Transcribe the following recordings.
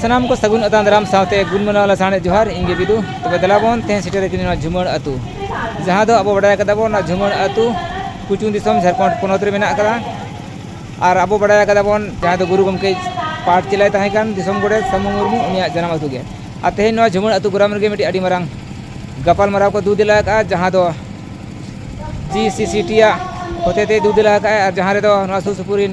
ᱥᱟᱱᱟᱢ ᱠᱚ ᱥᱟᱹᱜᱩᱱ ᱟᱛᱟᱝ ᱫᱟᱨᱟᱢ ᱥᱟᱶᱛᱮ ᱜᱩᱱ ᱢᱟᱱᱟᱣ ᱞᱟᱥᱟᱲᱦᱮᱫ ᱡᱚᱦᱟᱨ ᱤᱧ ᱜᱮ ᱵᱤᱫᱩ ᱛᱚᱵᱮ ᱫᱮᱞᱟ ᱵᱚᱱ ᱛᱮᱦᱮᱧ ᱥᱮᱴᱮᱨ ᱟᱠᱟᱱᱟ ᱱᱚᱣᱟ ᱡᱷᱩᱢᱟᱹᱲ ᱟᱹᱛᱩ ᱡᱟᱦᱟᱸ ᱫᱚ ᱟᱵᱚ ᱵᱟᱰᱟᱭ ᱠᱟᱫᱟ ᱵᱚᱱ ᱱᱚᱣᱟ ᱡᱷᱩᱢᱟᱹᱲ ᱟᱹᱛᱩ ᱠᱩᱪᱩᱝ ᱫᱤᱥᱚᱢ ᱡᱷᱟᱲᱠᱷᱚᱸᱰ ᱯᱚᱱᱚᱛ ᱨᱮ ᱢᱮᱱᱟᱜ ᱟᱠᱟᱫᱟ ᱟᱨ ᱟᱵᱚ ᱵᱟᱰᱟᱭ ᱠᱟᱫᱟ ᱵᱚᱱ ᱡᱟᱦᱟᱸᱭ ᱫᱚ ᱜᱩᱨᱩ ᱜᱚᱢᱠᱮ ᱯᱟᱴ ᱪᱮᱞᱟᱭ ᱛᱟᱦᱮᱸ ᱠᱟᱱ ᱫᱤᱥᱚᱢ ᱜᱚᱰᱮᱛ ᱥᱟᱹᱢᱩ ᱢᱩᱨᱢᱩ ᱩᱱᱤᱭᱟᱜ ᱡᱟᱱᱟᱢ ᱟᱹᱛᱩ ᱜᱮ ᱟᱨ ᱛᱮᱦᱮᱧ ᱱᱚᱣᱟ ᱡᱷᱩᱢᱟᱹᱲ ᱟᱹᱛᱩ ᱜᱚᱨᱟᱢ ᱨᱮᱜᱮ ᱢᱤᱫᱴᱤᱡ ᱟᱹᱰᱤ ᱢᱟᱨᱟᱝ ᱜᱟᱯᱟᱞ ᱢᱟᱨᱟᱣ ᱠᱚ ᱫᱩ ᱫᱮᱞᱟ ᱟᱠᱟᱫᱼᱟ ᱡᱟᱦᱟᱸ ᱫᱚ ᱡᱤ ᱥᱤ ᱥᱤ ᱴᱤ ᱟᱜ ᱦᱚᱛᱮᱛᱮ ᱫᱩ ᱫᱮᱞᱟ ᱟᱠᱟᱫᱼᱟᱭ ᱟᱨ ᱡᱟᱦᱟᱸ ᱨᱮᱫᱚ ᱱᱚᱣᱟ ᱥᱩᱨ ᱥᱩᱯᱩᱨ ᱨᱮᱱ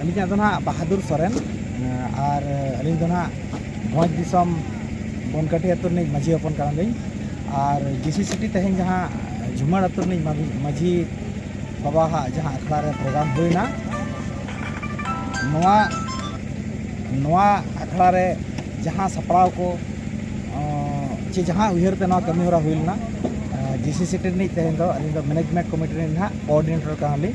ᱟᱹᱞᱤᱧᱟᱜ ᱫᱚ ᱱᱟᱦᱟᱜ ᱵᱟᱦᱟᱫᱩᱨ ᱥᱚᱨᱮᱱ ᱟᱨ ᱟᱹᱞᱤᱧ ᱫᱚ ᱱᱟᱦᱟᱜ ᱵᱷᱚᱸᱡᱽ ᱫᱤᱥᱚᱢ ᱵᱚᱱᱠᱟᱴᱤ ᱟᱹᱛᱩ ᱨᱤᱱᱤᱡ ᱢᱟᱺᱡᱷᱤ ᱦᱚᱯᱚᱱ ᱠᱟᱱᱟᱞᱤᱧ ᱟᱨ ᱡᱤ ᱥᱤ ᱥᱤᱴᱤ ᱛᱮᱦᱮᱧ ᱡᱟᱦᱟᱸ ᱡᱷᱩᱢᱟᱹᱲ ᱟᱹᱛᱩ ᱨᱤᱱᱤᱡ ᱢᱟᱺᱡᱷᱤ ᱵᱟᱵᱟᱣᱟᱜ ᱡᱟᱦᱟᱸ ᱟᱠᱷᱲᱟ ᱨᱮ ᱯᱨᱳᱜᱨᱟᱢ ᱦᱩᱭᱱᱟ ᱱᱚᱣᱟ ᱱᱚᱣᱟ ᱟᱠᱷᱲᱟ ᱨᱮ ᱡᱟᱦᱟᱸ ᱥᱟᱯᱲᱟᱣ ᱠᱚ ᱪᱮ ᱡᱟᱦᱟᱸ ᱩᱭᱦᱟᱹᱨ ᱛᱮ ᱱᱚᱣᱟ ᱠᱟᱹᱢᱤ ᱦᱚᱨᱟ ᱦᱩᱭ ᱞᱮᱱᱟ ᱡᱤ ᱥᱤ ᱥᱤᱴᱤ ᱨᱤᱱᱤᱡ ᱛᱮᱦᱮᱧ ᱫᱚ ᱟᱹᱞᱤᱧ ᱫᱚ ᱢᱮᱱᱮᱡᱽᱢᱮᱱᱴ ᱠᱚᱢᱤᱴᱤ ᱨᱤᱱᱤᱡ ᱱᱟᱦᱟᱜ ᱠᱳᱼᱚᱰᱤᱱᱮᱴᱚᱨ ᱠᱟᱱᱟᱞᱤᱧ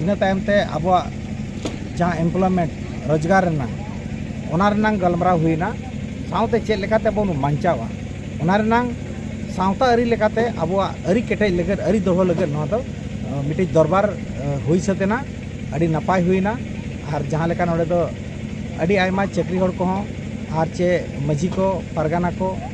ᱤᱱᱟᱹ ᱛᱟᱭᱚᱢ ᱛᱮ ᱟᱵᱚᱣᱟᱜ ᱡᱟᱦᱟᱸ ᱮᱢᱯᱞᱚᱭᱢᱮᱱᱴ ᱨᱳᱡᱽᱜᱟᱨ ᱨᱮᱱᱟᱜ ᱚᱱᱟ ᱨᱮᱱᱟᱜ ᱜᱟᱞᱢᱟᱨᱟᱣ ᱦᱩᱭᱱᱟ ᱥᱟᱶᱛᱮ ᱪᱮᱫ ᱞᱮᱠᱟᱛᱮ ᱵᱚᱱ ᱵᱟᱧᱪᱟᱣᱟ ᱚᱱᱟ ᱨᱮᱱᱟᱜ ᱥᱟᱶᱛᱟ ᱟᱹᱨᱤ ᱞᱮᱠᱟᱛᱮ ᱟᱵᱚᱣᱟᱜ ᱟᱹᱨᱤ ᱠᱮᱴᱮᱡ ᱞᱟᱹᱜᱤᱫ ᱟᱹᱨᱤ ᱫᱚᱦᱚ ᱞᱟᱹᱜᱤᱫ ᱱᱚᱣᱟ ᱫᱚ ᱢᱤᱫᱴᱤᱡ ᱫᱚᱨᱵᱟᱨ ᱦᱩᱭ ᱥᱟᱹᱛ ᱮᱱᱟ ᱟᱹᱰᱤ ᱱᱟᱯᱟᱭ ᱦᱩᱭᱱᱟ ᱟᱨ ᱡᱟᱦᱟᱸ ᱞᱮᱠᱟ ᱱᱚᱰᱮ ᱫᱚ ᱟᱹᱰᱤ ᱟᱭᱢᱟ ᱪᱟᱹᱠᱨᱤ ᱦᱚᱲ ᱠᱚᱦᱚᱸ ᱟᱨ ᱪᱮ ᱢᱟᱹᱡᱷᱤ ᱠᱚ ᱯᱟᱨᱜᱟᱱᱟ ᱠᱚ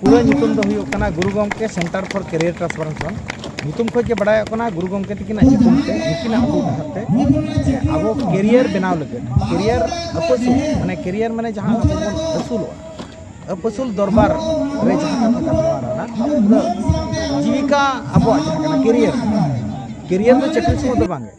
ᱯᱩᱨᱟᱹ ᱧᱩᱛᱩᱢ ᱫᱚ ᱦᱩᱭᱩᱜ ᱠᱟᱱᱟ Guru Gomke centre for career transformation ᱧᱩᱛᱩᱢ ᱠᱷᱚᱱ ᱜᱮ ᱵᱟᱲᱟᱭᱚᱜ ᱠᱟᱱᱟ ᱜᱩᱨᱩ ᱜᱚᱢᱠᱮ ᱛᱟᱹᱠᱤᱱᱟᱜ ᱧᱩᱛᱩᱢ ᱛᱮ ᱱᱩᱠᱤᱱᱟᱜ ᱩᱫᱩᱜ ᱰᱟᱦᱟᱨ ᱛᱮ ᱟᱵᱚ ᱠᱮᱨᱤᱭᱟᱨ ᱵᱮᱱᱟᱣ ᱞᱟᱹᱜᱤᱫ ᱠᱮᱨᱤᱭᱟᱨ ᱟᱹᱯᱟᱹᱥᱩᱞ ᱢᱟᱱᱮ ᱠᱮᱨᱤᱭᱟᱨ ᱢᱟᱱᱮ ᱡᱟᱦᱟᱸ ᱟᱵᱚ ᱵᱚᱱ ᱟᱹᱥᱩᱞᱚᱜᱼᱟ ᱟᱹᱯᱟᱹᱥᱩᱞ ᱫᱚᱨᱵᱟᱨ ᱨᱮ ᱡᱟᱦᱟᱸ ᱠᱟᱛᱷᱟ ᱠᱟᱱ ᱱᱚᱣᱟ ᱨᱮᱱᱟᱜ ᱯᱩᱨᱟᱹ ᱡᱤᱵᱤᱠᱟ ᱟᱵᱚᱣᱟᱜ ᱡᱟᱦᱟᱸ ᱠᱟᱱᱟ ᱠᱮᱨᱤᱭᱟᱨ ᱠᱮᱨᱤᱭᱟᱨ ᱫᱚ ᱪᱟᱹᱠᱨᱤ ᱥᱚᱢᱚᱭ ᱫᱚ ᱵᱟᱝᱜᱮ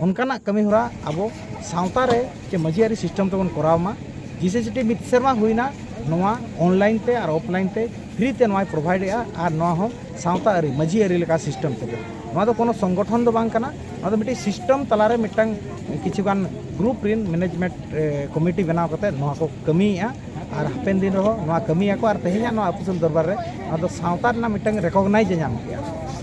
ᱚᱱᱠᱟᱱᱟᱜ ᱠᱟᱹᱢᱤ ᱦᱚᱨᱟ ᱟᱵᱚ ᱥᱟᱶᱛᱟ ᱨᱮ ᱪᱮ ᱢᱟᱹᱡᱷᱤ ᱟᱹᱨᱤ ᱥᱤᱥᱴᱮᱢ ᱛᱮᱵᱚᱱ ᱠᱚᱨᱟᱣ ᱢᱟ ᱡᱤᱥᱮᱥᱤᱴᱤ ᱢᱤᱫ ᱥᱮᱨᱢᱟ ᱦᱩᱭᱱᱟ ᱱᱚᱣᱟ ᱚᱱᱞᱟᱭᱤᱱ ᱛᱮ ᱟᱨ ᱚᱯᱷᱞᱟᱭᱤᱱ ᱛᱮ ᱯᱷᱨᱤ ᱛᱮ ᱱᱚᱣᱟᱭ ᱯᱨᱚᱵᱷᱟᱭᱤᱰ ᱮᱜᱼᱟ ᱟᱨ ᱱᱚᱣᱟ ᱦᱚᱸ ᱥᱟᱶᱛᱟ ᱟᱹᱨᱤ ᱢᱟᱹᱡᱷᱤ ᱟᱹᱨᱤ ᱞᱮᱠᱟ ᱥᱤᱥᱴᱮᱢ ᱛᱮᱜᱮ ᱱᱚᱣᱟ ᱫᱚ ᱠᱳᱱᱳ ᱥᱚᱝᱜᱚᱴᱷᱚᱱ ᱫᱚ ᱵᱟᱝ ᱠᱟᱱᱟ ᱱᱚᱣᱟ ᱫᱚ ᱢᱤᱫᱴᱤᱡ ᱥᱤᱥᱴᱮᱢ ᱛᱟᱞᱟᱨᱮ ᱢᱤᱫᱴᱟᱝ ᱠᱤᱪᱷᱩᱜᱟᱱ ᱜᱨᱩᱯ ᱨᱮᱱ ᱢᱮᱱᱮᱡᱽᱢᱮᱱᱴ ᱠᱚᱢᱤᱴᱤ ᱵᱮᱱᱟᱣ ᱠᱟᱛᱮ ᱱᱚᱣᱟ ᱠᱚ ᱠᱟᱹᱢᱤᱭᱮᱜᱼᱟ ᱟᱨ ᱦᱟᱯᱮᱱ ᱫᱤᱱ ᱨᱮᱦᱚᱸ ᱱᱚᱣᱟ ᱠᱟᱹᱢᱤᱭᱟᱠᱚ ᱟᱨ ᱛᱮᱦᱮᱧᱟᱜ ᱱᱚᱣᱟ ᱟᱹᱯᱩᱥᱩᱞ ᱫᱚᱨᱵᱟᱨ ᱨᱮ ᱱᱚᱣᱟ ᱫᱚ ᱥᱟᱶᱛᱟ ᱨᱮᱱᱟᱜ ᱢᱤᱫᱴᱟᱝ ᱨᱮᱠᱚᱜᱽᱱᱟᱭᱤᱡᱽ ᱮ ᱧᱟᱢ ᱠᱮᱜᱼᱟ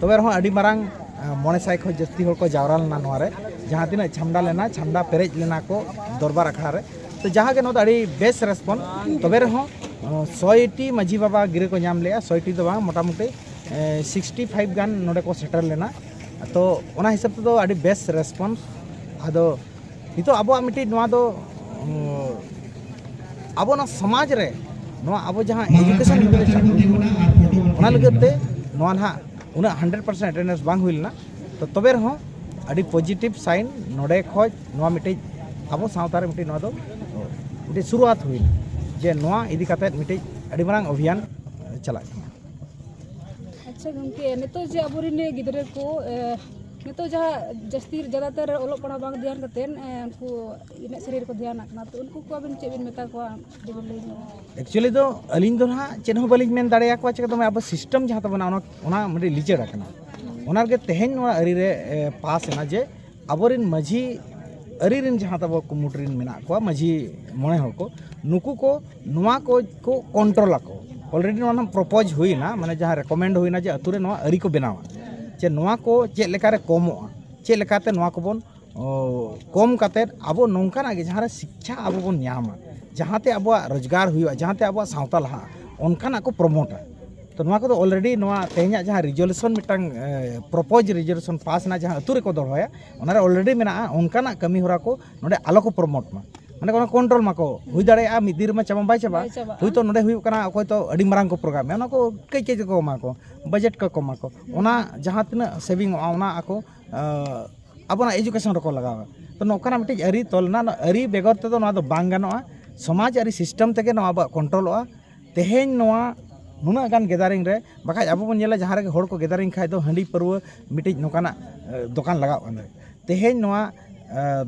ᱛᱚᱵᱮ ᱨᱮᱦᱚᱸ ᱟᱹᱰᱤ ᱢᱟᱨᱟᱝ ᱢᱚᱬᱮ ᱥᱟᱭ ᱠᱷᱚᱱ ᱡᱟᱹᱥᱛᱤ ᱦᱚᱲ ᱠᱚ ᱡᱟᱣᱨᱟ ᱞᱮᱱᱟ ᱱᱚᱣᱟ ᱨᱮ ᱡᱟᱦᱟᱸ ᱛᱤᱱᱟᱹᱜ ᱪᱷᱟᱢᱰᱟ ᱞᱮᱱᱟ ᱪᱷᱟᱢᱰᱟ ᱯᱮᱨᱮᱡ ᱞᱮᱱᱟ ᱠᱚ ᱫᱚᱨᱵᱟᱨ ᱟᱠᱷᱲᱟ ᱨᱮ ᱛᱚ ᱡᱟᱦᱟᱸ ᱜᱮ ᱱᱚᱣᱟ ᱫᱚ ᱟᱹᱰᱤ ᱵᱮᱥ ᱨᱮᱥᱯᱚᱱ ᱛᱚᱵᱮ ᱨᱮᱦᱚᱸ ᱥᱚᱭᱴᱤ ᱢᱟᱹᱡᱷᱤ ᱵᱟᱵᱟ ᱜᱤᱨᱟᱹ ᱠᱚ ᱧᱟᱢ ᱞᱮᱜᱼᱟ ᱥᱚᱭᱴᱤ ᱫᱚ ᱵᱟᱝ ᱢᱚᱴᱟᱢᱩᱴᱤ ᱥᱤᱠᱥᱴᱤ ᱯᱷᱟᱭᱤᱵᱷ ᱜᱟᱱ ᱱᱚᱰᱮ ᱠᱚ ᱥᱮᱴᱮᱨ ᱞᱮᱱᱟ ᱛᱚ ᱚᱱᱟ ᱦᱤᱥᱟᱹᱵ ᱛᱮᱫᱚ ᱟᱹᱰᱤ ᱵᱮᱥ ᱨᱮᱥᱯᱚᱱᱥ ᱟᱫᱚ ᱱᱤᱛᱚᱜ ᱟᱵᱚᱣᱟᱜ ᱢᱤᱫᱴᱤᱡ ᱱᱚᱣᱟ ᱫᱚ ᱟᱵᱚ ᱱᱚᱣᱟ ᱥᱚᱢᱟᱡᱽ ᱨᱮ ᱱᱚᱣᱟ ᱟᱵᱚ ᱡᱟᱦᱟᱸ ᱮᱰᱩᱠᱮᱥᱚᱱ ᱚᱱᱟ ᱞᱟᱹᱜᱤᱫ ᱛᱮ ᱱᱚᱣᱟ ᱱᱟᱦᱟᱜ ᱩᱱᱟᱹᱜ ᱦᱟᱱᱰᱨᱮᱰ ᱯᱟᱨᱥᱮᱱ ᱮᱴᱮᱱᱰᱮᱱᱥ ᱵᱟᱝ ᱦᱩᱭ ᱞᱮᱱᱟ ᱛᱚ ᱛᱚᱵᱮ ᱨᱮᱦᱚᱸ ᱟᱹᱰᱤ ᱯᱚᱡᱤᱴᱤᱵᱷ ᱥᱟᱭᱤᱱ ᱱᱚᱰᱮ ᱠᱷᱚᱡ ᱱᱚᱣᱟ ᱢᱤᱫᱴᱤᱡ ᱟᱵᱚ ᱥᱟᱶᱛᱟ ᱨᱮ ᱢᱤᱫᱴᱤᱡ ᱱᱚᱣᱟ ᱫᱚ ᱢᱤᱫᱴᱤᱡ ᱥᱩᱨᱩᱣᱟᱛ ᱦᱩᱭᱱᱟ ᱡᱮ ᱱᱚᱣᱟ ᱤᱫᱤ ᱠᱟᱛᱮ ᱢᱤᱫᱴᱤᱡ ᱟᱹᱰᱤ ᱢᱟᱨᱟᱝ ᱚᱵᱷᱤᱭᱟᱱ ᱪᱟᱞᱟᱜ ᱠᱟᱱᱟ ᱟᱪᱪᱷᱟ ᱜᱚᱢᱠᱮ ᱱᱤᱛᱚᱜ ᱡᱮ ᱟᱵᱚᱨᱮᱱ ᱜᱤᱫᱽᱨᱟᱹ ᱠᱚ ᱱᱤᱛᱚᱜ ᱡᱟᱦᱟᱸ ᱡᱟᱹᱥᱛᱤ ᱡᱟᱫᱟᱛᱚᱨ ᱚᱞᱚᱜ ᱯᱟᱲᱦᱟᱣ ᱵᱟᱝ ᱫᱷᱮᱭᱟᱱ ᱠᱟᱛᱮᱫ ᱩᱱᱠᱩ ᱮᱱᱮᱡ ᱥᱮᱨᱮᱧ ᱨᱮᱠᱚ ᱫᱷᱮᱭᱟᱱᱟᱜ ᱠᱟᱱᱟ ᱛᱚ ᱩᱱᱠᱩ ᱠᱚ ᱟᱵᱮᱱ ᱪᱮᱫ ᱵᱮᱱ ᱢᱮᱛᱟ ᱠᱚᱣᱟ ᱡᱩᱫᱤ ᱵᱮᱱ ᱞᱟᱹᱭ ᱧᱚᱜᱟ ᱮᱠᱪᱩᱭᱮᱞᱤ ᱫᱚ ᱟᱹᱞᱤᱧ ᱫᱚ ᱱᱟᱦᱟᱜ ᱪᱮᱫ ᱦᱚᱸ ᱵᱟᱹᱞᱤᱧ ᱢᱮᱱ ᱫᱟᱲᱮᱭᱟᱠᱚᱣᱟ ᱪᱮᱠᱟ ᱫᱚᱢᱮ ᱟᱵᱚ ᱥᱤᱥᱴᱮᱢ ᱡᱟᱦᱟᱸ ᱛᱟᱵᱚᱱᱟ ᱚᱱᱟ ᱚᱱᱟ ᱢᱤᱫᱴᱤᱡ ᱞᱤᱪᱟᱹᱲ ᱟᱠᱟᱱᱟ ᱚᱱᱟ ᱨᱮᱜᱮ ᱛᱮᱦᱮᱧ ᱱᱚᱣᱟ ᱟᱹᱨᱤ ᱨᱮ ᱯᱟᱥ ᱮᱱᱟ ᱡᱮ ᱟᱵᱚᱨᱮᱱ ᱢᱟᱺᱡᱷᱤ ᱟᱹᱨᱤ ᱨᱮᱱ ᱡᱟᱦᱟᱸ ᱛᱟᱵᱚ ᱠᱩᱢᱩᱴ ᱨᱮᱱ ᱢᱮᱱᱟᱜ ᱠᱚᱣᱟ ᱢᱟᱺᱡᱷᱤ ᱢᱚᱬᱮ ᱦᱚᱲ ᱠᱚ ᱱᱩᱠᱩ ᱠᱚ ᱱᱚᱣᱟ ᱠᱚ ᱠᱚ ᱠᱚᱱᱴᱨᱳᱞ ᱟᱠᱚ ᱚᱞᱨᱮᱰᱤ ᱱᱚᱣᱟ ᱨᱮᱱᱟᱜ ᱯᱨᱚᱯᱳᱡᱽ ᱦᱩᱭᱱᱟ ᱢᱟᱱᱮ ᱡᱟᱦᱟᱸ ᱨᱮᱠᱚᱢᱮᱱᱰ ᱦᱩᱭᱱᱟ ᱡᱮ ᱟᱹᱛᱩ ᱨᱮ ᱱᱚᱣᱟ ᱟᱹᱨᱤ ᱠᱚ ᱵᱮᱱᱟᱣᱟ ᱡᱮ ᱱᱚᱣᱟ ᱠᱚ ᱪᱮᱫ ᱞᱮᱠᱟᱨᱮ ᱠᱚᱢᱚᱜᱼᱟ ᱪᱮᱫ ᱞᱮᱠᱟᱛᱮ ᱱᱚᱣᱟ ᱠᱚᱵᱚᱱ ᱠᱚᱢ ᱠᱟᱛᱮ ᱟᱵᱚ ᱱᱚᱝᱠᱟᱱᱟᱜ ᱜᱮ ᱡᱟᱦᱟᱸᱨᱮ ᱥᱤᱠᱠᱷᱟ ᱟᱵᱚ ᱵᱚᱱ ᱧᱟᱢᱟ ᱡᱟᱦᱟᱸᱛᱮ ᱟᱵᱚᱣᱟᱜ ᱨᱳᱡᱽᱜᱟᱨ ᱦᱩᱭᱩᱜᱼᱟ ᱡᱟᱦᱟᱸᱛᱮ ᱟᱵᱚᱣᱟᱜ ᱥᱟᱶᱛᱟ ᱞᱟᱦᱟᱜᱼᱟ ᱚᱱᱠᱟᱱᱟᱜ ᱠᱚ ᱯᱨᱳᱢᱳᱴᱟ ᱛᱚ ᱱᱚᱣᱟ ᱠᱚᱫᱚ ᱚᱞᱨᱮᱰᱤ ᱱᱚᱣᱟ ᱛᱮᱦᱮᱧᱟᱜ ᱡᱟᱦᱟᱸ ᱨᱤᱡᱚᱞᱩᱥᱚᱱ ᱢᱤᱫᱴᱟᱝ ᱯᱨᱚᱯᱳᱡᱽ ᱨᱤᱡᱚᱞᱩᱥᱚᱱ ᱯᱟᱥ ᱮᱱᱟ ᱡᱟᱦᱟᱸ ᱟᱹᱛᱩ ᱨᱮᱠᱚ ᱫᱚᱦᱚᱭᱟ ᱚᱱᱟᱨᱮ ᱚᱞᱨᱮᱰᱤ ᱢᱮᱱᱟᱜᱼᱟ ᱚᱱᱠᱟᱱᱟᱜ ᱠᱟᱹᱢᱤ ᱦᱚᱨᱟ ᱠᱚ ᱱᱚᱰᱮ ᱟᱞᱚ ᱠᱚ ᱯᱨᱳᱢᱳᱴ ᱢᱟ ᱢᱟᱱᱮ ᱚᱱᱟ ᱠᱚᱱᱴᱨᱳᱞ ᱢᱟᱠᱚ ᱦᱩᱭ ᱫᱟᱲᱮᱭᱟᱜᱼᱟ ᱢᱤᱫ ᱫᱤᱱ ᱨᱮᱢᱟ ᱪᱟᱵᱟ ᱵᱟᱭ ᱪᱟᱵᱟᱜ ᱦᱳᱭᱛᱳ ᱱᱚᱰᱮ ᱦᱩᱭᱩᱜ ᱠᱟᱱᱟ ᱚᱠᱚᱭ ᱛᱚ ᱟᱹᱰᱤ ᱢᱟᱨᱟᱝ ᱠᱚ ᱯᱨᱳᱜᱨᱟᱢᱮᱜᱼᱟ ᱚᱱᱟ ᱠᱚ ᱠᱟᱹᱡ ᱠᱟᱹᱡ ᱠᱚ ᱮᱢᱟ ᱠᱚ ᱵᱟᱡᱮᱴ ᱠᱚ ᱮᱢᱟ ᱠᱚ ᱚᱱᱟ ᱡᱟᱦᱟᱸ ᱛᱤᱱᱟᱹᱜ ᱥᱮᱵᱷᱤᱝ ᱚᱜᱼᱟ ᱚᱱᱟ ᱟᱠᱚ ᱟᱵᱚᱱᱟᱜ ᱮᱡᱩᱠᱮᱥᱚᱱ ᱨᱮᱠᱚ ᱞᱟᱜᱟᱣᱟ ᱛᱚ ᱱᱚᱝᱠᱟᱱᱟᱜ ᱢᱤᱫᱴᱤᱡ ᱟᱹᱨᱤ ᱛᱚᱞ ᱨᱮᱱᱟᱜ ᱟᱹᱨᱤ ᱵᱮᱜᱚᱨ ᱛᱮᱫᱚ ᱱᱚᱣᱟ ᱫᱚ ᱵᱟᱝ ᱜᱟᱱᱚᱜᱼᱟ ᱥᱚᱢᱟᱡᱽ ᱟᱹᱨᱤ ᱥᱤᱥᱴᱮᱢ ᱛᱮᱜᱮ ᱱᱚᱣᱟ ᱟᱵᱚᱣᱟᱜ ᱠᱚᱱᱴᱨᱳᱞᱚᱜᱼᱟ ᱛᱮᱦᱮᱧ ᱱᱚᱣᱟ ᱱᱩᱱᱟᱹᱜ ᱜᱟᱱ ᱜᱮᱫᱟᱨᱤᱝ ᱨᱮ ᱵᱟᱠᱷᱟᱡ ᱟᱵᱚ ᱵᱚᱱ ᱧᱮᱞᱟ ᱡᱟᱦᱟᱸ ᱨᱮᱜᱮ ᱦᱚᱲ ᱠᱚ ᱜᱮᱫᱟᱨᱤᱝ ᱠᱷᱟᱡ ᱫᱚ ᱦᱟᱺᱰᱤ ᱯᱟᱹᱨᱣᱟᱹ ᱢᱤᱫᱴᱤᱡ ᱱᱚᱝᱠᱟᱱᱟᱜ ᱫᱚᱠᱟᱱ ᱞᱟᱜᱟᱣ ᱠᱟᱱᱟ ᱛᱮᱦᱮᱧ ᱱᱚᱣᱟ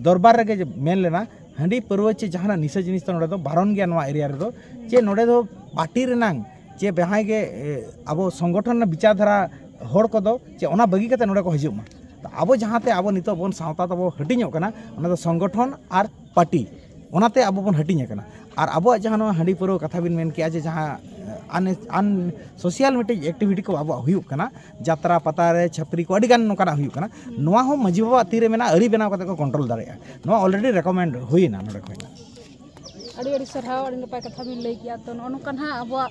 ᱫᱚᱨᱵᱟᱨ ᱨᱮᱜᱮ ᱡᱮ ᱢᱮᱱ ᱞᱮᱱᱟ ᱦᱟᱺᱰᱤ ᱯᱟᱹᱨᱣᱟᱹ ᱪᱮ ᱡᱟᱦᱟᱱᱟᱜ ᱱᱤᱥᱟᱹ ᱡᱤᱱᱤᱥ ᱫᱚ ᱱᱚᱰᱮ ᱫᱚ ᱵᱟᱨᱚᱱ ᱜᱮᱭᱟ ᱱᱚᱣᱟ ᱮᱨᱤᱭᱟ ᱨᱮᱫᱚ ᱪᱮ ᱱᱚᱰᱮ ᱫᱚ ᱯᱟᱨᱴᱤ ᱨᱮᱱᱟᱝ ᱪᱮ ᱡᱟᱦᱟᱸᱭ ᱜᱮ ᱟᱵᱚ ᱥᱚᱝᱜᱚᱴᱷᱚᱱ ᱨᱮᱱᱟᱜ ᱵᱤᱪᱟᱨ ᱫᱷᱟᱨᱟ ᱦᱚᱲ ᱠᱚᱫᱚ ᱪᱮ ᱚᱱᱟ ᱵᱟᱹᱜᱤ ᱠᱟᱛᱮ ᱱᱚᱰᱮ ᱠᱚ ᱦᱤᱡᱩᱜ ᱢᱟ ᱟᱵᱚ ᱡᱟᱦᱟᱸᱛᱮ ᱟᱵᱚ ᱱᱤᱛᱚᱜ ᱵᱚᱱ ᱥᱟᱶᱛᱟ ᱛᱟᱵᱚ ᱦᱟᱹᱴᱤᱧᱚᱜ ᱠᱟᱱᱟ ᱚᱱᱟ ᱫᱚ ᱥᱚᱝᱜᱚᱴᱷᱚᱱ ᱟᱨ ᱯᱟᱨᱴᱤ ᱚᱱᱟᱛᱮ ᱟᱵᱚ ᱵᱚᱱ ᱦᱟᱹᱴᱤᱧ ᱟᱠᱟᱱᱟ ᱟᱨ ᱟᱵᱚᱣᱟᱜ ᱡᱟᱦᱟᱸ ᱱᱚᱣᱟ ᱦᱟᱺᱰᱤ ᱯᱟᱹᱣᱨᱟᱹ ᱠᱟᱛᱷᱟ ᱵᱤᱱ ᱢᱮᱱ ᱠᱮᱜᱼᱟ ᱡᱮ ᱡᱟᱦᱟᱸ ᱟᱱ ᱥᱳᱥᱟᱞ ᱢᱤᱫᱴᱤᱡ ᱮᱠᱴᱤᱵᱷᱤᱴᱤ ᱠᱚ ᱟᱵᱚᱣᱟᱜ ᱦᱩᱭᱩᱜ ᱠᱟᱱᱟ ᱡᱟᱛᱨᱟ ᱯᱟᱛᱟ ᱨᱮ ᱪᱷᱟᱹᱯᱨᱤ ᱠᱚ ᱟᱹᱰᱤᱜᱟᱱ ᱱᱚᱝᱠᱟᱱᱟᱜ ᱦᱩᱭᱩᱜ ᱠᱟᱱᱟ ᱱᱚᱣᱟ ᱦᱚᱸ ᱢᱟᱹᱡᱷᱤ ᱵᱟᱵᱟᱣᱟᱜ ᱛᱤᱨᱮ ᱢᱮᱱᱟᱜᱼᱟ ᱟᱹᱨᱤ ᱵᱮᱱᱟᱣ ᱠᱟᱛᱮ ᱠᱚ ᱠᱚᱱᱴᱨᱳᱞ ᱫᱟᱲᱮᱭᱟᱜᱼᱟ ᱱᱚᱣᱟ ᱚᱞᱨᱮᱰᱤ ᱨᱮᱠᱳᱢᱮᱱᱰ ᱦᱩᱭᱱᱟ ᱱᱚᱰᱮ ᱠᱷᱚᱱ ᱟᱹᱰᱤ ᱟᱹᱰᱤ ᱥᱟᱨᱦᱟᱣ ᱟᱹᱰᱤ ᱱᱟᱯᱟᱭ ᱠᱟᱛᱷᱟ ᱵᱤᱱ ᱞᱟᱹᱭ ᱠᱮᱜᱼᱟ ᱛᱚ ᱱᱚᱜᱼᱚ ᱱᱚᱝᱠᱟ ᱦᱟᱸᱜ ᱟᱵᱚᱣᱟᱜ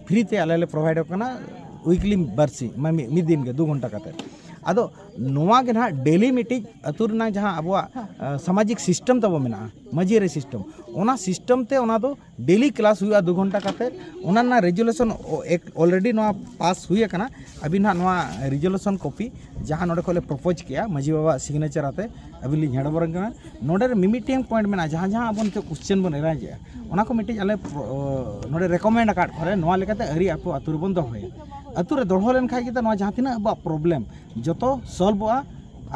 ᱯᱷᱨᱤ ᱛᱮ ᱟᱞᱮ ᱞᱮ ᱯᱨᱚᱵᱷᱟᱭᱤᱰ ᱟᱠᱚ ᱠᱟᱱᱟ ᱩᱭᱤᱠᱞᱤ ᱵᱟᱨᱥᱤ ᱢᱟᱱᱮ ᱢᱤᱫ ᱫᱤᱱ ᱜᱮ ᱫᱩ ᱜᱷᱚᱱᱴᱟ ᱠᱟᱛᱮ ᱟᱫᱚ ᱱᱚᱣᱟ ᱜᱮ ᱱᱟᱦᱟᱜ ᱰᱮᱞᱤ ᱢᱤᱫᱴᱤᱡ ᱟᱹᱛᱩ ᱨᱮᱱᱟᱜ ᱡᱟᱦᱟᱸ ᱟᱵᱚᱣᱟᱜ ᱥᱟᱢᱟᱡᱤᱠ ᱥᱤᱥᱴᱮᱢ ᱛᱟᱵᱚ ᱢᱮᱱᱟᱜᱼᱟ ᱢᱟᱹᱡᱷᱤ ᱟᱹᱨᱤ ᱥᱤᱥᱴᱮᱢ ᱚᱱᱟ ᱥᱤᱥᱴᱮᱢ ᱛᱮ ᱚᱱᱟ ᱫᱚ ᱰᱮᱞᱤ ᱠᱞᱟᱥ ᱦᱩᱭᱩᱜᱼᱟ ᱫᱩ ᱜᱷᱚᱱᱴᱟ ᱠᱟᱛᱮ ᱚᱱᱟ ᱨᱮᱱᱟᱜ ᱨᱮᱡᱩᱞᱮᱥᱚᱱ ᱚᱞᱨᱮᱰᱤ ᱱᱚᱣᱟ ᱯᱟᱥ ᱦᱩᱭ ᱟᱠᱟᱱᱟ ᱟᱹᱵᱤᱱ ᱦᱟᱸᱜ ᱱᱚᱣᱟ ᱨᱮᱡᱩᱞᱮᱥᱚᱱ ᱠᱚᱯᱤ ᱡᱟᱦᱟᱸ ᱱᱚᱰᱮ ᱠᱷᱚᱱ ᱞᱮ ᱯᱨᱚᱯᱳᱡᱽ ᱠᱮᱜᱼᱟ ᱢᱟᱹᱡᱷᱤ ᱵᱟᱵᱟᱣᱟᱜ ᱥᱤᱜᱽᱱᱮᱪᱟᱨ ᱟᱛᱮ ᱟᱹᱵᱤᱱ ᱞᱤᱧ ᱦᱮᱱᱰ ᱚᱵᱷᱟᱨ ᱟᱹᱵᱤᱱ ᱠᱟᱱᱟ ᱱᱚᱰᱮ ᱢᱤᱢᱤᱫᱴᱟᱝ ᱯᱚᱭᱮᱱᱴ ᱢᱮᱱᱟᱜᱼᱟ ᱡᱟᱦᱟᱸ ᱡᱟᱦᱟᱸ ᱟᱵᱚ ᱱᱤᱛᱚᱜ ᱠᱚᱥᱪᱮᱱ ᱵᱚᱱ ᱮᱨᱟᱭᱤᱡᱽ ᱮᱜᱼᱟ ᱚᱱᱟ ᱠᱚ ᱢᱤᱫᱴᱤᱡ ᱟᱞᱮ ᱱᱚᱰᱮ ᱨᱮᱠᱚᱢᱮᱱᱰ ᱟᱠᱟᱫ ᱠᱚᱨᱮ ᱱᱚᱣᱟ ᱞᱮᱠᱟᱛᱮ ᱟᱹᱨᱤ ᱟᱠᱚ ᱟᱛᱳ ᱨᱮᱵᱚᱱ ᱫᱚᱦᱚᱭᱟ ᱟᱛᱳ ᱨᱮ ᱫᱚᱦᱚ ᱞᱮᱱᱠᱷᱟᱡ ᱜᱮᱛᱚ ᱱᱚᱣᱟ ᱡᱟᱦᱟᱸ ᱛᱤᱱᱟᱹᱜ ᱟᱵᱚᱣᱟᱜ ᱯᱨᱚᱵᱞᱮᱢ ᱡᱚᱛᱚ ᱥᱚᱞᱵᱷᱚᱜᱼᱟ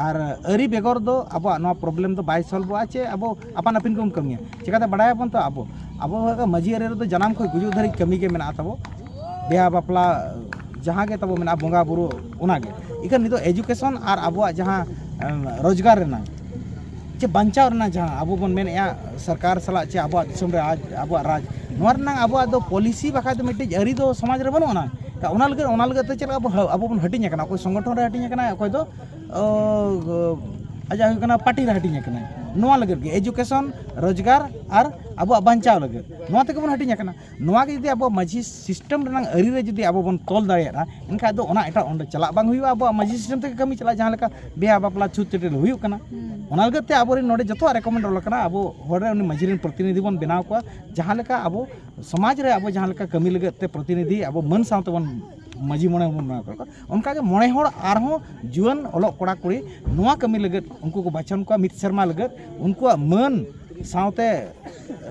ᱟᱨ ᱟᱹᱨᱤ ᱵᱮᱜᱚᱨ ᱫᱚ ᱟᱵᱚᱣᱟᱜ ᱱᱚᱣᱟ ᱯᱨᱚᱵᱞᱮᱢ ᱫᱚ ᱵᱟᱭ ᱥᱚᱞᱵᱷᱚᱜᱼᱟ ᱪᱮ ᱟᱵᱚ ᱟᱯᱟᱱ ᱟᱹᱯᱤᱱ ᱵᱚᱱ ᱠᱟᱹᱢᱤᱭᱟ ᱪᱤᱠᱟᱛᱮ ᱵᱟᱲᱟᱭᱟᱵᱚᱱ ᱛᱚ ᱟᱵᱚ ᱟᱵᱚ ᱢᱟᱹᱡᱷᱤ ᱟᱹᱨᱤ ᱨᱮᱫᱚ ᱡᱟᱱᱟᱢ ᱠᱷᱚᱱ ᱜᱩᱡᱩᱜ ᱫᱷᱟᱹᱨᱤᱡ ᱠᱟᱹᱢᱤ ᱜᱮ ᱢᱮᱱᱟᱜ ᱛᱟᱵᱚ ᱵᱤᱦᱟ ᱵᱟᱯᱞᱟ ᱡᱟᱦᱟᱸ ᱜᱮ ᱛᱟᱵᱚ ᱢᱮᱱᱟᱜᱼᱟ ᱵᱚᱸᱜᱟ ᱵᱩᱨᱩ ᱚᱱᱟ ᱜᱮ ᱤᱠᱷᱟᱹᱱ ᱱᱤᱛᱚᱜ ᱮᱡᱩᱠᱮᱥᱚᱱ ᱟᱨ ᱟᱵᱚᱣᱟᱜ ᱡᱟᱦᱟᱸ ᱨᱳᱡᱽᱜᱟᱨ ᱨᱮᱱᱟᱜ ᱪᱮ ᱵᱟᱧᱪᱟᱣ ᱨᱮᱱᱟᱜ ᱡᱟᱦᱟᱸ ᱟᱵᱚ ᱵᱚᱱ ᱢᱮᱱᱮᱜᱼᱟ ᱥᱚᱨᱠᱟᱨ ᱥᱟᱞᱟᱜ ᱪᱮ ᱟᱵᱚᱣᱟᱜ ᱫᱤᱥᱚᱢ ᱨᱮ ᱟᱡ ᱟᱵᱚᱣᱟᱜ ᱨᱟᱡᱽ ᱱᱚᱣᱟ ᱨᱮᱱᱟᱜ ᱟᱵᱚᱣᱟᱜ ᱫᱚ ᱯᱚᱞᱤᱥᱤ ᱵᱟᱠᱷᱟᱡ ᱫᱚ ᱢᱤᱫᱴᱤᱡ ᱟᱹᱨᱤ ᱫᱚ ᱥᱚᱢᱟᱡᱽ ᱨᱮ ᱵᱟᱹᱱᱩᱜ ᱟᱱᱟᱝ ᱚᱱᱟ ᱞᱟᱹᱜᱤᱫ ᱚᱱᱟ ᱞᱟᱹᱜᱤᱫ ᱛᱮ ᱪᱮᱫ ᱞᱮᱠᱟ ᱵᱚᱱ ᱟᱵᱚ ᱵᱚᱱ ᱦᱟᱹᱴᱤᱧ ᱟᱠᱟᱱᱟ ᱚᱠᱚᱭ ᱥᱚᱝᱜᱚᱴᱷᱚᱱ ᱨᱮ ᱦᱟᱹᱴᱤᱧ ᱟᱠᱟᱱᱟᱭ ᱚᱠᱚᱭ ᱫᱚ ᱟᱡᱟᱜ ᱦᱩᱭᱩᱜ ᱠᱟᱱᱟ ᱯᱟᱨᱴᱤ ᱨᱮ ᱦᱟᱹᱴᱤᱧ ᱟᱠᱟᱱᱟᱭ ᱱᱚᱣᱟ ᱞᱟᱹᱜᱤᱫ ᱜᱮ ᱮᱡᱩᱠᱮᱥᱚᱱ ᱨᱳᱡᱽᱜᱟᱨ ᱟᱨ ᱟᱵᱚᱣᱟᱜ ᱵᱟᱧᱪᱟᱣ ᱞᱟᱹᱜᱤᱫ ᱱᱚᱣᱟ ᱛᱮᱜᱮ ᱵᱚᱱ ᱦᱟᱹᱴᱤᱧ ᱟᱠᱟᱱᱟ ᱱᱚᱣᱟ ᱜᱮ ᱡᱩᱫᱤ ᱟᱵᱚ ᱢᱟᱹᱡᱷᱤ ᱥᱤᱥᱴᱮᱢ ᱨᱮᱱᱟᱝ ᱟᱹᱨᱤ ᱨᱮ ᱡᱩᱫᱤ ᱟᱵᱚ ᱵᱚᱱ ᱛᱚᱞ ᱫᱟᱲᱮᱭᱟᱜᱼᱟ ᱮᱱᱠᱷᱟᱱ ᱫᱚ ᱚᱱᱟ ᱮᱴᱟᱜ ᱚᱸᱰᱮ ᱪᱟᱞᱟᱜ ᱵᱟᱝ ᱦᱩᱭᱩᱜᱼᱟ ᱟᱵᱚᱣᱟᱜ ᱢᱟᱹᱡᱷᱤ ᱥᱤᱥᱴᱮᱢ ᱛᱮᱜᱮ ᱠᱟᱹᱢᱤ ᱪᱟᱞᱟᱜᱼᱟ ᱡᱟᱦᱟᱸ ᱞᱮᱠᱟ ᱵᱤᱦᱟᱹ ᱵᱟᱯᱞᱟ ᱪᱷᱩᱸᱛ ᱪᱟᱹᱴᱭᱟᱹᱨ ᱦᱩᱭᱩᱜ ᱠᱟᱱᱟ ᱚᱱᱟ ᱞᱟᱹᱜᱤᱫ ᱛᱮ ᱟᱵᱚ ᱨᱮᱱ ᱱᱚᱰᱮ ᱡᱚᱛᱚᱣᱟᱜ ᱨᱮᱠᱚᱢᱮᱱᱰ ᱚᱞ ᱠᱟᱱᱟ ᱟᱵᱚ ᱦᱚᱲ ᱨᱮᱱ ᱩᱱᱤ ᱢᱟᱹᱡᱷᱤ ᱨᱮᱱ ᱯᱨᱚᱛᱤᱱᱤᱫᱷᱤ ᱵᱚᱱ ᱵᱮᱱᱟᱣ ᱠᱚᱣᱟ ᱡᱟᱦᱟᱸ ᱞᱮᱠᱟ ᱟᱵᱚ ᱥᱚᱢᱟᱡᱽ ᱨᱮ ᱟᱵᱚ ᱡᱟᱦᱟᱸ ᱞᱮᱠᱟ ᱠᱟᱹᱢᱤ ᱞᱟᱹᱜᱤᱫ ᱛᱮ ᱯᱨᱚᱛᱤᱱᱤᱫᱷᱤ ᱟᱵᱚ ᱢᱟᱹᱱ ᱥᱟᱶ ᱛᱮᱵᱚᱱ ᱢᱟᱹᱡᱷᱤ ᱢᱚᱬᱮ ᱦᱚᱸᱵᱚᱱ ᱵᱮᱱᱟᱣ ᱠᱟᱜ ᱠᱚᱣᱟ ᱚᱱᱠᱟᱜᱮ ᱢᱚᱬᱮ ᱦᱚᱲ ᱟᱨᱦᱚᱸ ᱡᱩᱣᱟᱹᱱ ᱚᱞᱚᱜ ᱠᱚᱲᱟ ᱠᱩᱲᱤ ᱱᱚᱣᱟ ᱠᱟᱹᱢᱤ ᱞᱟᱹᱜᱤᱫ ᱩᱱᱠᱩ ᱠᱚ ᱵᱟᱪᱷᱚᱱ ᱠᱚᱣᱟ ᱢᱤᱫ ᱥᱮᱨᱢᱟ ᱞᱟᱹᱜᱤᱫ ᱩᱱᱠᱩᱣᱟᱜ ᱢᱟᱹᱱ ᱥᱟᱶᱛᱮ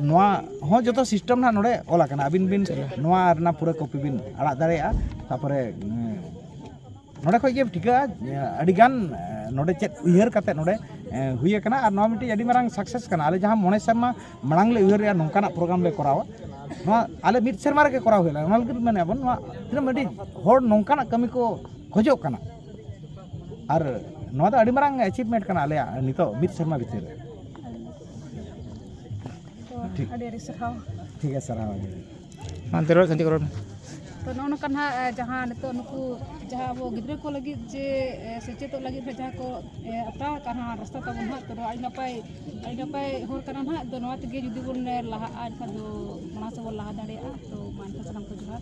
ᱱᱚᱣᱟ ᱦᱚᱸ ᱡᱚᱛᱚ ᱥᱤᱥᱴᱮᱢ ᱱᱟᱦᱟᱜ ᱱᱚᱰᱮ ᱚᱞ ᱟᱠᱟᱱᱟ ᱟᱹᱵᱤᱱ ᱵᱤᱱ ᱱᱚᱣᱟ ᱨᱮᱱᱟᱜ ᱯᱩᱨᱟᱹ ᱠᱚᱯᱤ ᱵᱤᱱ ᱟᱲᱟᱜ ᱫᱟᱲᱮᱭᱟᱜᱼᱟ ᱛᱟᱨᱯᱚᱨᱮ ᱱᱚᱰᱮ ᱠᱷᱚᱱ ᱜᱮ ᱴᱷᱤᱠᱟᱹᱜᱼᱟ ᱟᱹᱰᱤ ᱜᱟᱱ ᱱᱚᱰᱮ ᱪᱮᱫ ᱩᱭᱦᱟᱹᱨ ᱠᱟᱛᱮ ᱱᱚᱰᱮ ᱦᱩᱭ ᱟᱠᱟᱱᱟ ᱟᱨ ᱱᱚᱣᱟ ᱢᱤᱫᱴᱤᱡ ᱟᱹᱰᱤ ᱢᱟᱨᱟᱝ ᱥᱟᱠᱥᱮᱥ ᱠᱟᱱᱟ ᱟᱞᱮ ᱡᱟᱦᱟᱸ ᱢᱚᱬᱮ ᱥᱮᱨᱢᱟ ᱢᱟᱲᱟᱝ ᱞᱮ ᱩᱭᱦᱟᱹᱨ ᱞᱮᱫᱼᱟ ᱱᱚᱝᱠᱟᱱᱟᱜ ᱯᱨᱳᱜᱨᱟᱢ ᱞᱮ ᱠᱚᱨᱟᱣᱟ ᱱᱚᱣᱟ ᱟᱞᱮ ᱢᱤᱫ ᱥᱮᱨᱢᱟ ᱨᱮᱜᱮ ᱠᱚᱨᱟᱣ ᱦᱩᱭ ᱞᱮᱱᱟ ᱚᱱᱟ ᱞᱟᱹᱜᱤᱫ ᱢᱮᱱᱮᱫᱼᱟ ᱵᱚᱱ ᱱᱚᱣᱟ ᱛᱤᱱᱟᱹᱜ ᱢᱤᱫᱴᱤᱡ ᱦᱚᱲ ᱱᱚᱝᱠᱟᱱᱟᱜ ᱠᱟᱹᱢᱤ ᱠᱚ ᱠᱷᱚᱡᱚᱜ ᱠᱟᱱᱟ ᱟᱨ ᱱᱚᱣᱟ ᱫᱚ ᱟᱹᱰᱤ ᱢᱟᱨᱟᱝ ᱮᱪᱤᱵᱷᱢᱮᱱᱴ ᱠᱟᱱᱟ ᱟᱞᱮᱭᱟᱜ ᱱᱤᱛᱚᱜ ᱢᱤᱫ ᱥᱮᱨᱢᱟ ᱵᱷᱤᱛᱤᱨ ᱨᱮ ᱟᱹᱰᱤ ᱟᱹᱰᱤ ᱥᱟᱨᱦᱟᱣ ᱴᱷᱤᱠ ᱜᱮᱭᱟ ᱥᱟᱨᱦᱟᱣ ᱦᱟᱱᱛᱮ ᱨᱚᱲ ᱥᱟᱱᱛᱤ ᱨᱚᱲ ᱛᱚ ᱱᱚᱜᱼᱚ ᱱᱚᱝᱠᱟ ᱱᱟᱦᱟᱜ ᱡᱟᱦᱟᱸ ᱱᱤᱛᱚᱜ ᱱᱩᱠᱩ ᱡᱟᱦᱟᱸ ᱟᱵᱚ ᱜᱤᱫᱽᱨᱟᱹ ᱠᱚ ᱞᱟᱹᱜᱤᱫ ᱡᱮ ᱥᱮᱪᱮᱫᱚᱜ ᱞᱟᱹᱜᱤᱫ ᱦᱚᱸ ᱡᱟᱦᱟᱸ ᱠᱚ ᱟᱛᱟᱣ ᱟᱠᱟᱫ ᱦᱟᱸᱜ ᱨᱟᱥᱛᱟ ᱛᱟᱵᱚᱱ ᱦᱟᱸᱜ ᱛᱚ ᱱᱚᱣᱟ ᱟᱹᱰᱤ ᱱᱟᱯᱟᱭ ᱟᱹᱰᱤ ᱱᱟᱯᱟᱭ ᱦᱚᱨ ᱠᱟᱱᱟ ᱱᱟᱦᱟᱜ ᱟᱫᱚ ᱱᱚᱣᱟ ᱛᱮᱜᱮ ᱡᱩᱫᱤ ᱵᱚᱱ ᱞᱟᱦᱟᱜᱼᱟ ᱮᱱᱠᱷᱟᱱ ᱫᱚ ᱢᱟᱲᱟᱝ ᱥᱮᱫ ᱵᱚᱱ ᱞᱟᱦᱟ ᱫᱟᱲᱮᱭᱟᱜᱼᱟ ᱛᱚ ᱢᱟ ᱮᱱᱠᱷᱟᱱ ᱥᱟᱱᱟᱢ ᱠᱚ ᱡᱚᱦᱟᱨ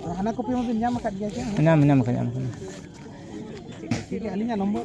ᱟᱨ ᱦᱟᱱᱟ ᱠᱚᱯᱤ ᱢᱟᱵᱤᱱ ᱧᱟᱢ ᱟᱠᱟᱫ ᱜᱮᱭᱟ ᱥᱮ ᱧᱟᱢ ᱧᱟᱢ ᱟᱠᱟᱫ ᱧᱟᱢ ᱟᱠᱟᱫ ᱴᱷᱤᱠ ᱜᱮᱭᱟ ᱟᱹᱞᱤᱧᱟᱜ ᱱᱚᱢᱵᱚᱨ